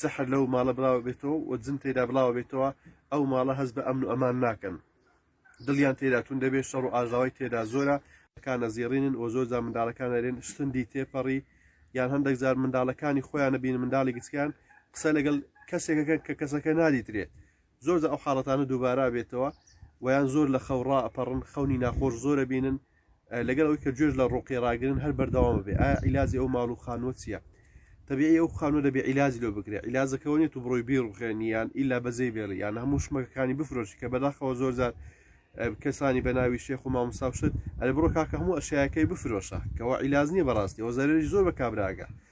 سحر لەو ماڵە بڵاوە بێتەوە و جن تێدا بڵاوە بێتەوە ئەو ماڵە هەست بە ئەمن و ئەمان ناکەن دڵیان تێدا تون دەبێت شەڕ و ئاژاوای تێدا زۆرە کانە زیێڕینن و زۆرجا منداڵەکان ئەرێن سندی تێپەڕی یان هەندێک جار منداڵەکانی خۆیان نەبین منداڵی گچکان قسە لەگەڵ کەسێکەکەن کە کەسەکە نادیترێت زۆرجار ئەو حاڵەتانە دووبارە بێتەوە ویان زۆر لە خەو ڕائەپەڕن خەونی ناخۆش زۆرە بینن لەگەڵ ئەوی کە گوێش لە ڕۆقی ڕاگرن هەر بەردەوام بێ ئایا عیلاجی ئەو ماڵ و خانوە چییە تەبیعی ئەو خانوە دەبێ عیلاج لۆ بگرێ عیلاجەکەەوە نیێت و بڕۆی بیڕخێنیان ئیلا بەجێ بێڵی یان هەموو شمەکەکانی بفرۆشی کە بەداخەوە زۆرجار کەسانی بە ناوی شێخ و مامساوشت ئەرە بڕۆ کاکە هەموو ئەشیاەکەی بفرۆشە کەەوە عیلاز نییە بەڕاستی ئەو زەرری زۆر بە کابراگە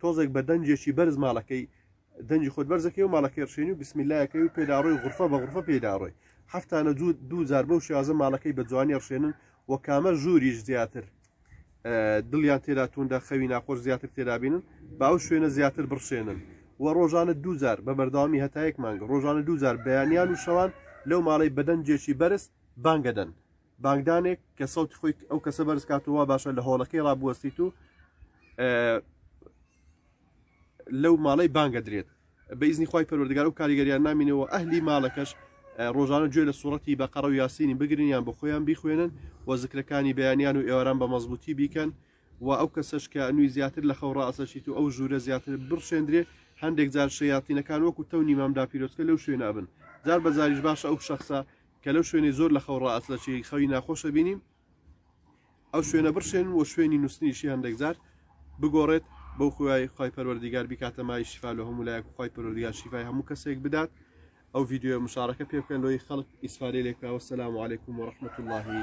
تۆزێک بە دەنجێکی بەرز ماڵەکەی دەنجی خۆت بەرزەکەی و ماڵەکەی ڕشێنی و بسمیلایەکەی و پێداڕۆی غرفە بە غرفە پێداڕۆی هەفتانە جوود دوو جار بەو شێوازە ماڵەکەی بە جوانی ڕشێنن و کامە ژووریش زیاتر دڵیان تێدا توندە خەوی ناخۆش زیاتر تێدابینن با ئەو شوێنە زیاتر بڕشێنن و ڕۆژانە دووجار بە بەردەوامی هەتایەک مانگە ڕۆژانە دووجار بەیانیان و شەوان لەو ماڵی بەدەنجێکی بەرز بانگەدەن بانگدانێک کە سەوتی خۆی ئەو کەسە بەرز کاتەوە وا باشە لە هۆڵەکەی ڕابوەستیت و لەو ماڵەی بانگە درێت بە ئیزنی خی پەروەردگار و کاریگەریان نامینەوە ئەهلی ماڵەکەش ڕۆژانە گوێ لە سوڕەتی بە قەڕە و یاسینی بگرنیان بۆ خۆیان بیخوێنن و زکرەکانی بەیانیان و ئێواران بە مەزبوطی بیکەن و ئەو کەسەش کە نوی زیاتر لە خەو ڕاستەشیت و ئەو ژوورە زیاتر بڕشێندرێ هەندێک جار شەیاتینەکان وەکو تەونی مامدا پیرۆستکە لەو شوێنابن جار بەجاریش باشە ئەو شخصە کە لەو شوێنەی زۆر لەخەو ڕائەسلەچێ خەوی ناخۆش ئەبینین ئەو شوێنە بڕشێن و شوێنی نووسنیشی هەندێک جار بگۆڕێت بەو خوای خی پەروەردیگار بیکاتە مای شیفا لە هەموو لایەک خی پەروەردیگار شیفای هەموو کەسێک بدات ئەو ڤیددیو مشارەکە پێ بکەن لۆی خەڵک ئیسفادەی لێکاوە سەسلام عیکم و رححمت اللهی